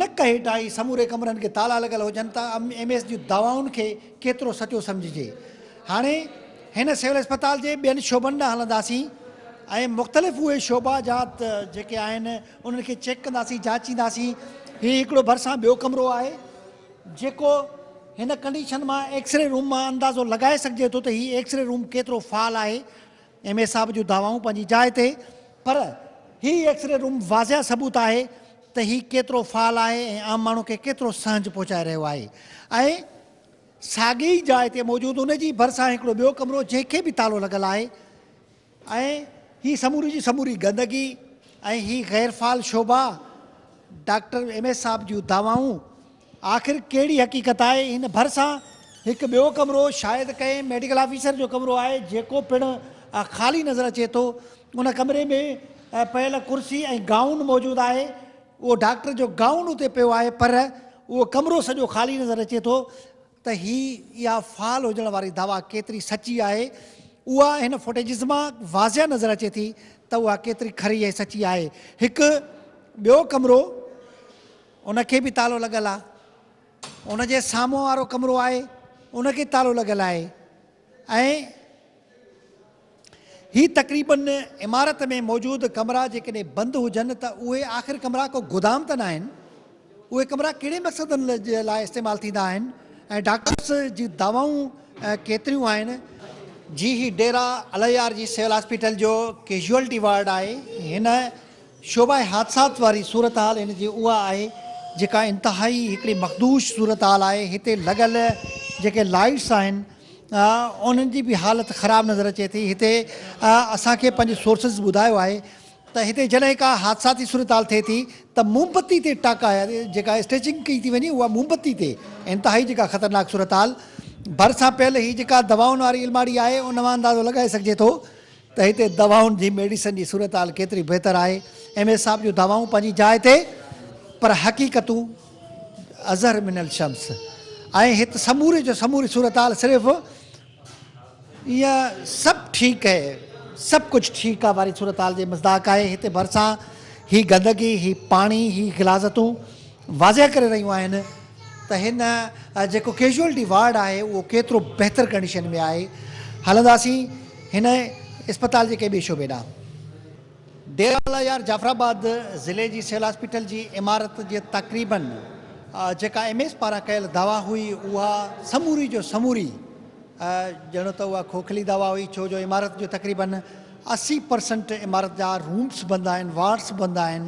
نڪ هيٺان ئي سموري ڪمرن کي تالا لڳل هجن ته ايم ايس جون دعوائن کي ڪيترو سچو سمجهجي. هاڻي هن سول اسپتال جي ٻين شعبن ڏانهن هلنداسين ۽ مختلف اهي شعبا جا جيڪي آهن انهن کي چيڪ ڪنداسين، جاچينداسين. هي هڪڙو ڀرسان ٻيو ڪمرو آهي. جيڪو هن ڪنڊيشن مان ايڪس ري روم مان اندازو لڳائي سگهجي ٿو ته هي ايڪس ري روم ڪيترو فعال آهي. ايم اي صاحب جون دعوائون پنهنجي جاء تي پر هي ايڪس ري روم واضح ثبوت آهي ته هي ڪيترو فعال آهي ۽ عام ماڻهو کي ڪيترو سهنج پهچائي رهيو آهي ۽ ساڳي ئي جاء تي موجود ان جي ڀرسان هڪڙو ٻيو ڪمرو جنهن کي به تالو لڳل آهي ۽ هي سموري جي سموري گندگي ۽ هي غير فعال شعبا، ڊاڪٽر ايم ايس صاحب جون دعوائون، آخر ڪهڙي حقيقت آهي؟ هن ڀرسان هڪ ٻيو ڪمرو شايد ڪنهن ميڊيڪل آفيسر جو ڪمرو آهي جيڪو پڻ خالي نظر اچي ٿو. ان ڪمري ۾ پيل ڪرسي ۽ گائون موجود آهي. اهو ڊاڪٽر جو گائون اتي پيو آهي پر اهو ڪمرو سڄو خالي نظر اچي ٿو. ته هي اها فعال هجڻ واري دعويٰ ڪيتري سچي آهي، اها هن فوٽيجز مان واضح نظر اچي ٿي ته اها ڪيتري کري ۽ سچي آهي. هڪ ٻيو ڪمرو ان کي به تالو لڳل آهي. ان جي سامهون وارو ڪمرو آهي ان کي تالو لڳل آهي ۽. هي تقريبن عمارت ۾ موجود ڪمرا جيڪڏهن بند هجن ته اهي آخر ڪمرا ڪو گودام ته ناهن؟ اهي ڪمرا ڪهڙي مقصدن جي لاء استعمال ٿيندا آهن ۽ ڊاڪٽرس جون دوائون ڪيتريون آهن؟ جي هي ڊيرا الهيار جي سول هاسپيٽل جو ڪيجوئلٽي وارڊ آهي. هن شعبهء حادثات واري صورتحال هن جي اها آهي جيڪا انتهائي هڪڙي مخدوش صورتحال آهي. هتي لڳل جيڪي لائيٽس آهن. انهن جي به حالت خراب نظر اچي ٿي هتي اسان کي پنهنجي سورسز ٻڌايو آهي ته هتي جڏهن ڪا حادثاتي صورتحال ٿئي ٿي ته مومبتي تي ٽاڪا جيڪا اسٽيچنگ ڪئي ٿي وڃي اها مومبتي تي انتهائي جيڪا خطرناڪ صورتحال ڀرسان پيل هي جيڪا دوائن واري الماڙي آهي ان مان اندازو لڳائي سگهجي ٿو ته هتي دوائن جي ميڊيسن جي صورتحال ڪيتري بهتر آهي. ايم اي صاحب جون دعوائون پنهنجي جاء تي پر حقيقتون اظهر من الشمس ۽ هت سموري جو سموري صورتحال صرف ايئن سڀ ٺيڪ هي سڀ ڪجهه ٺيڪ آ واري صورتحال جي مصداق آهي. هتي ڀرسان هي گندگي هي پاڻي هي غلاظتون واضح ڪري رهيون آهن. ته هن جيڪو ڪيزوئلٽي وارڊ آهي اهو ڪيترو بهتر ڪنڊيشن ۾ آهي. هلنداسين هن اسپتال جي ڪنهن ٻئي شعبي ڏانهن. ڊيرالله يار جعفرآباد ضلعي جي سول هاسپيٽل جي عمارت جي تقريبن جيڪا ايم ايس پاران ڪيل دعويٰ هئي اها سموري جو سموري ڄڻو ته اها کوکلي دعويٰ هئي ڇو جو عمارت جو تقريبن اسي پرسنٽ عمارت جا رومس بند آهن وارڊس بند آهن.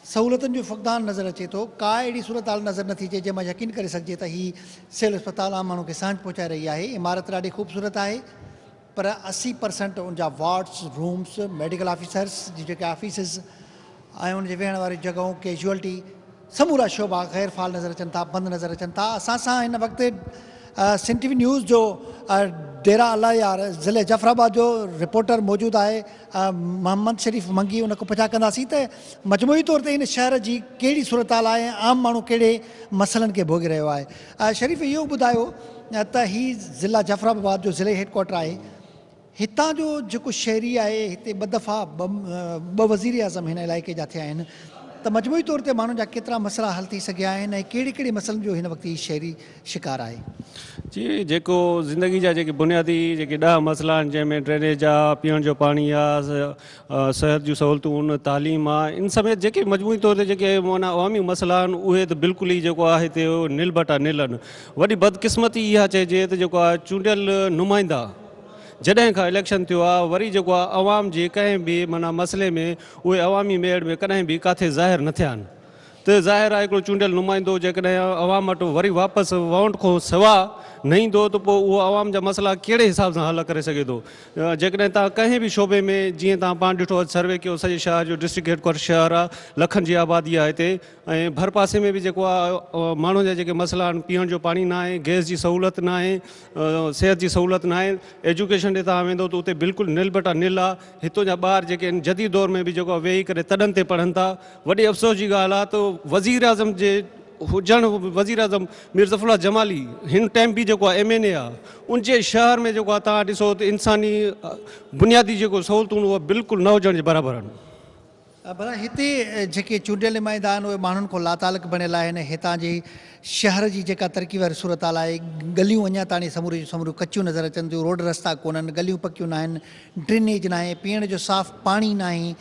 سهولتن جو فقدان نظر اچي ٿو، ڪا اهڙي صورتحال نظر نٿي اچي جنهن مان يقين ڪري سگهجي ته هي سول اسپتال عام ماڻهو کي سهنج پهچائي رهي آهي، عمارت ڏاڍي خوبصورت آهي پر اسي پرسنٽ ان جا وارڊز، رومز، ميڊيڪل آفيسرز جون جيڪي آفيسز ۽ ان جي ويهڻ واريون جڳهون، ڪيجوئلٽي سمورا شعبا غير فعال نظر اچن ٿا، بند نظر اچن ٿا، اسان سان هن وقت سنڌ ٽي وي نيوز جو ڊيرا الله يار ضلعي جعفر آباد جو رپورٽر موجود آهي، محمد شريف منگي ان کان پڇا ڪنداسين ته مجموعي طور تي هن شهر جي ڪهڙي صورتحال آهي ۽ عام ماڻهو ڪهڙي مسئلن کي ڀوڳي رهيو آهي. شريف اهو به ٻڌايو ته هي ضلع جعفر آباد جو ضلعي هيڊ ڪوارٽر آهي. هتان جو جيڪو شهري آهي هتي ٻه دفعا ٻه وزير اعظم هن علائقي جا ٿيا آهن ته مجموعي طور تي ماڻهن جا ڪيترا مسئلا حل ٿي سگهيا آهن ۽ ڪهڙي ڪهڙي مسئلن جو هن وقت هي شهري شڪار آهي. جي جيڪو زندگي جا جيڪي بنيادي جيڪي ڏهه مسئلا آهن جنهن ۾ ڊرينيج آ، پيئڻ جو پاڻي آ، صحت جون سهولتون، تعليم آ ان سميت جيڪي مجموعي طور تي جيڪي معنيٰ عوامي مسئلا آهن اهي ته بلڪل ئي جيڪو آ هتي نل بٽا نل آهن. وڏي بدقسمتي اها چئجي ته جيڪو آ چونڊيل نمائندا جڏهن کان اليڪشن ٿيو آ وري جيڪو آ عوام جي ڪنهن به معنيٰ مسئلي ۾ اهي عوامي ميڙ ۾ ڪڏهن به ڪاٿي ظاهر نه ٿيا آهن. ته ظاهر آهي هڪڙو چونڊيل نمائندو جيڪڏهن عوام وٽ وري واپس ووٽ کان سوا نه ايندو ته پوء اهو عوام جا مسئلا ڪهڙي حساب سان حل ڪري سگهي ٿو جيڪڏهن توهان ڪنهن به شعبي ۾ جيئن توهان پاڻ ڏٺو اڄ سروي ڪيو سڄي شهر جو ڊسٽرڪٽ هيڊ ڪوارٽر شهر آهي لکن جي آبادي آهي هتي ۽ ڀرپاسي ۾ به جيڪو آهي ماڻهن جا جيڪي مسئلا آهن پيئڻ جو پاڻي نه آهي گئس جي سهولت نه آهي صحت جي سهولت نه آهي ايجوڪيشن ڏي توهان ويندو ته اتي بلڪل نل بٽا نل آهي هتو جا ٻار جيڪي ان جديد دور ۾ به جيڪو ويهي ڪري تڏن تي پڙهن ٿا وڏي افسوس جي ڳالهه آ ته وزير اعظم جي هجڻ وزير اعظم مير ظفر الله جمالي هن ٽائم به جيڪو آ ايم اين اي آ ان جي شهر ۾ جيڪو آ تان ڏسو ته انساني بنيادي جيڪو سهولتون هو بلڪل نه هجڻ جي برابر آهن ڀلا هتي جيڪي چونڊيل نمائندا آهن اهي ماڻهن کان لاتعلق بڻيل آهن، هتان جي شهر جي جيڪا ترقي واري صورتحال آهي، ڳليون اڃا تاڻي سموريون جون سموريون ڪچيون نظر اچن ٿيون، روڊ رستا ڪونهن، ڳليون پڪيون ناهن، ڊرينيج ناهي، پيئڻ جو صاف پاڻي ناهي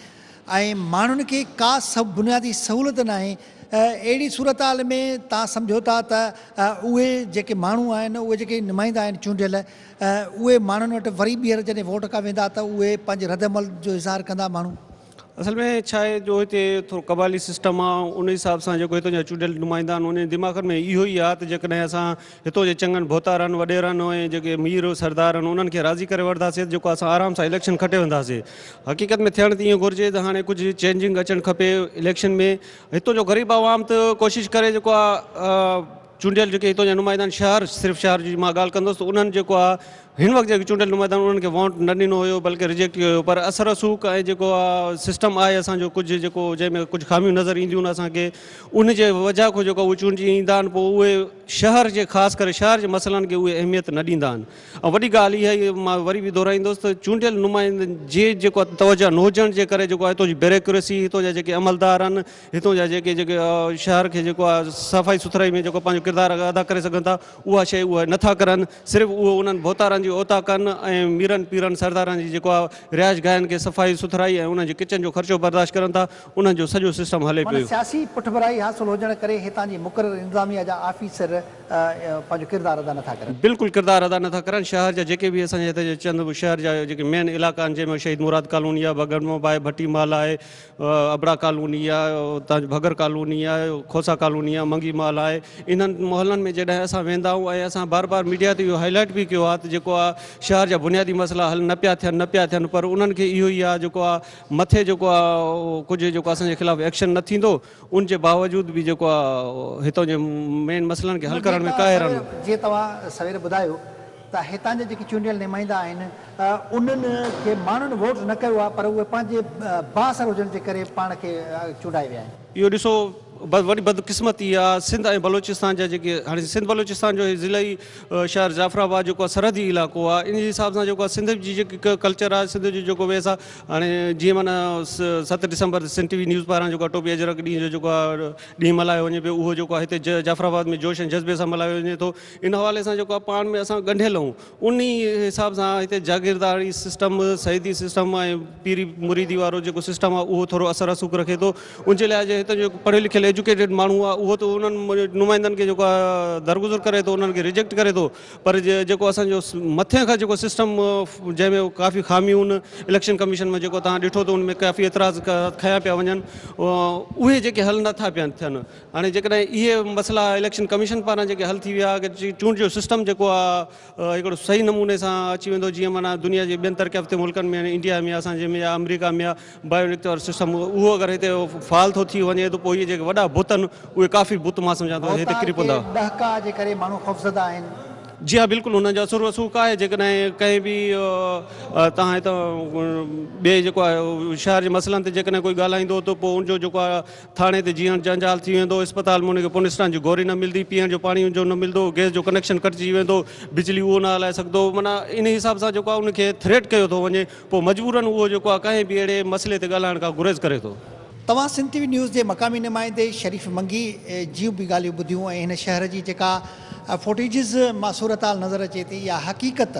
۽ ماڻهن کي ڪا بنيادي سهولت ناهي، اهڙي صورتحال ۾ تان سمجهو ٿا ته اهي جيڪي ماڻهو آهن اهي جيڪي نمائندا آهن چونڊيل ۽ اهي ماڻهن وٽ وري ٻيهر جڏهن ووٽ ڪا ويندا ته اهي پنهنجي ردعمل جو اظهار ڪندا ماڻهو. اصل ۾ ڇا آهي جو هتي ٿورو قبائلي سسٽم آ ان حساب سان جيڪو هتان جا چونڊيل نمائندا آهن انهن جي دماغن ۾ اهو ئي آ ته جيڪڏهن اسان هتو جي چڱن ڀوتارن وڏيرن ۽ جيڪي مير سردار آهن انهن کي راضي ڪري وٺداسين ته جيڪو اسان آرام سان اليڪشن کٽي وينداسين حقيقت ۾ ٿيڻ ته ايئن گهرجي ته هاڻي ڪجهه چينجنگ اچڻ کپي اليڪشن ۾ هتو جو غريب عوام ته ڪوشش ڪري جيڪو آ چونڊيل جيڪي هتان جا نمائندا آهن شهر صرف شهر جي مان ڳالهه ڪندس ته انهن جيڪو آ هن وقت جيڪي چونڊيل نمائندا آهن انهن کي وونٽ نه ڏنو هيو بلڪه ريجيڪٽ ڪيو هيو پر اثر رسوخ ۽ جيڪو آ سسٽم آهي اسان جو ڪجهه جيڪو جنهن ۾ ڪجهه خاميون نظر اينديون اسان کي ان جي وجهه کان جيڪو اهي چونڊجي ايندا آهن پوء اهي شهر جي خاص ڪري شهر جي مسئلن کي اهي اهميت نه ڏيندا آهن ۽ وڏي ڳالهه اها هي مان وري به دهرائيندس ته چونڊيل نمائندن جي جيڪو توجهه نه هجڻ جي ڪري جيڪو هتان جي بيروڪريسي هتان جا جيڪي عملدار آهن هتون جا جيڪي جيڪي شهر کي جيڪو آهي صفائي سٿرائي ۾ جيڪو پنهنجو ڪردار ادا ڪري سگهن ٿا اها شيء اهي نه ٿا ڪرن صرف اهي انهن ڀوتارن جي اوطاقن ۽ ميرن پيرن سردارن جي جيڪو آهي رهائش گاهن کي صفائي سٿرائي ۽ انهن جي ڪچن جو خرچو برداشت ڪرن ٿا انهن جو سڄو سسٽم هلي معنيٰ پيو. سياسي پٺڀرائي حاصل هجڻ ڪري هتان جي مقرر انتظاميه جا آفيسر پنهنجو ڪردار ادا نه ٿا ڪرن. بلڪل ڪردار ادا نه ٿا ڪرن شهر جا جيڪي به اسان جي هتي جا چند شهر جا جيڪي مين علائقا آهن جنهن ۾ شهيد مراد ڪالوني آهي بگهڙمو به آهي ڀٽي محل آهي ابڙا ڪالوني آ، اتان جي ڀڳر ڪالوني آ، کوسا ڪالوني آ، منگي محل آهي، انهن محلن ۾ جڏهن اسان ويندا آهيون ۽ اسان بار بار ميڊيا تي اهو هائي لائيٽ به ڪيو آهي ته جيڪو آ شهر جا بنيادي مسئلا حل نه پيا ٿين نه پيا ٿين پر انهن کي اهو ئي آ جيڪو آ مٿي جيڪو آ ڪجهه جيڪو اسان جي خلاف ايڪشن نه ٿيندو ان جي باوجود به جيڪو آ هتان جي مين مسئلن کي حل ڪرڻ ۾ ڪاهرن. جيئن توهان سوير ٻڌايو ته هتان جا جيڪي چونڊيل نمائندا آهن انهن کي ماڻهن ووٽ نه ڪيو آهي پر اهي پنهنجي بااثر هجڻ جي ڪري پاڻ کي چونڊائي ويا آهن. اهو ڏسو وڏي بدقسمتي آ سنڌ ۽ بلوچستان جا جيڪي هاڻي سنڌ بلوچستان جو هي ضلعي شهر جعفر آباد جيڪو آ سرحدي علائقو آ ان جي حساب سان جيڪو آ سنڌ جي جيڪي ڪلچر آ سنڌ جو جيڪو ويس آ هاڻي جيئن معنيٰ ست ڊسمبر سنڌ ٽي وي نيوز پاران جيڪو آ ٽوپي اجرڪ ڏينهن جو جيڪو آ ڏينهن ملهايو وڃي پيو اهو جيڪو آ هتي جعفر آباد ۾ جوش ۽ جذبي سان ملهايو وڃي ٿو. ان حوالي سان جيڪو پاڻ ۾ اسان ڳنڍيل اهون انهي حساب سان هتي جاگيرداري سسٽم سيدي سسٽم ۽ پيري مريدي وارو جيڪو سسٽم آهي اهو ٿورو اثر رسوخ رکي ٿو ان جي لاء جي هتي جيڪو پڙهيل لکيل ايجوڪيٽيڊ ماڻهو آهي اهو ته انهن نمائندن کي جيڪو درگذر ڪري ٿو انهن کي ريجيڪٽ ڪري ٿو پر جيڪو اسان جو مٿين کان جيڪو سسٽم جنهن ۾ ڪافي خاميون اليڪشن ڪميشن ۾ جيڪو توهان ڏٺو ته ان ۾ ڪافي اعتراض کنيا پيا وڃن اهي جيڪي حل نٿا پيا ٿين هاڻي جيڪڏهن اهي مسئلا اليڪشن ڪميشن پاران جيڪي حل ٿي ويا اگر چونڊ جو سسٽم جيڪو آ هڪڙو صحيح نموني سان اچي ويندو جيئن معنيٰ دنيا جي ٻين ترقي يافته ملڪن ۾ يعني انڊيا ۾ اسان جي ۾ يا آمريڪا ۾ آ بايو اليڪٽ وارو سسٽم اهو اگر هتي فعال ٿو ٿي وڃي ته پوء اهي جيڪي وڏا بت ان اهي ڪافي بت مان سمجهان ٿو هتي ڪري پوندا. ڀوتار کي ڏهڪاء جي ڪري ماڻهو خوفزده آهن. جي ها بلڪل انهن جو اثر و رسوخ آهي جيڪڏهن ڪنهن به تان هتان ٻئي جيڪو آ شهر جي مسئلن تي جيڪڏهن ڪوئي ڳالهائيندو ته پوء ان جو جيڪو آ ٿاڻي تي جيئڻ جنجال ٿي ويندو، اسپتال ۾ ان کي پونسٽان جي گوري نه ملندي، پيئڻ جو پاڻي ان جو نه ملندو، گئس جو ڪنيڪشن ڪٽجي ويندو، بجلي اهو نه هلائي سگهندو، معنيٰ ان حساب سان جيڪو آهي ان کي ٿريٽ ڪيو ٿو وڃي، پوء مجبورن اهو جيڪو آهي ڪنهن به اهڙي مسئلي تي ڳالهائڻ کان گريز ڪري ٿو. توهان سنڌ ٽي وي نيوز جي مقامي نمائندي شريف منگي جيون به ڳالهيون ٻڌيون ۽ هن شهر جي جيڪا فوٽيجز مان صورتحال نظر اچي ٿي اها حقيقت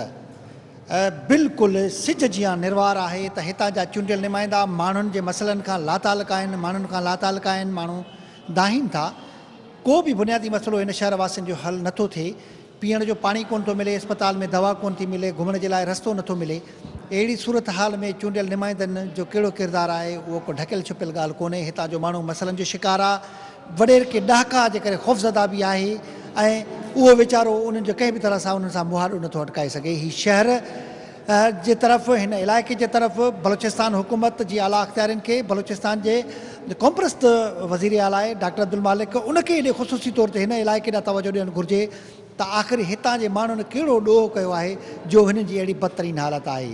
بلڪل سج جيان نروار آهي ته هتان جا چونڊيل نمائندا ماڻهن جي مسئلن کان لاتعلق آهن، ماڻهن کان لاتعلق آهن، ماڻهو دانهين ٿا. ڪو به بنيادي مسئلو هن شهر واسين جو حل نه ٿو ٿئي. پيئڻ جو پاڻي ڪونه ٿو ملي، اسپتال ۾ دوا ڪونه ٿي ملي، گهمڻ جي لاء رستو نه ٿو ملي. اهڙي صورتحال ۾ چونڊيل نمائندن جو ڪهڙو ڪردار آهي اهو ڪو ڍڪيل ڇپيل ڳالهه ڪونهي، هتان جو ماڻهو مسئلن جو شڪار آ، وڏير ڪي ڏهاڪا جي ڪري خوفزده به آهي ۽ اهو ويچارو انهن جو ڪنهن به طرح سان انهن سان مهاڏو نٿو اٽڪائي سگهي. هي شهر جي طرف هن علائقي جي طرف بلوچستان حڪومت جي اعليٰ اختيارين کي بلوچستان جي قومپرست وزير اعليٰ ڊاڪٽر عبدالمالڪ ان کي ايڏي خصوصي طور تي هن علائقي ڏانهن توجه ڏيڻ گهرجي ته آخر هتان جي ماڻهن ڪهڙو ڏوهه ڪيو آهي جو هنن جي اهڙي بدترين حالت آهي.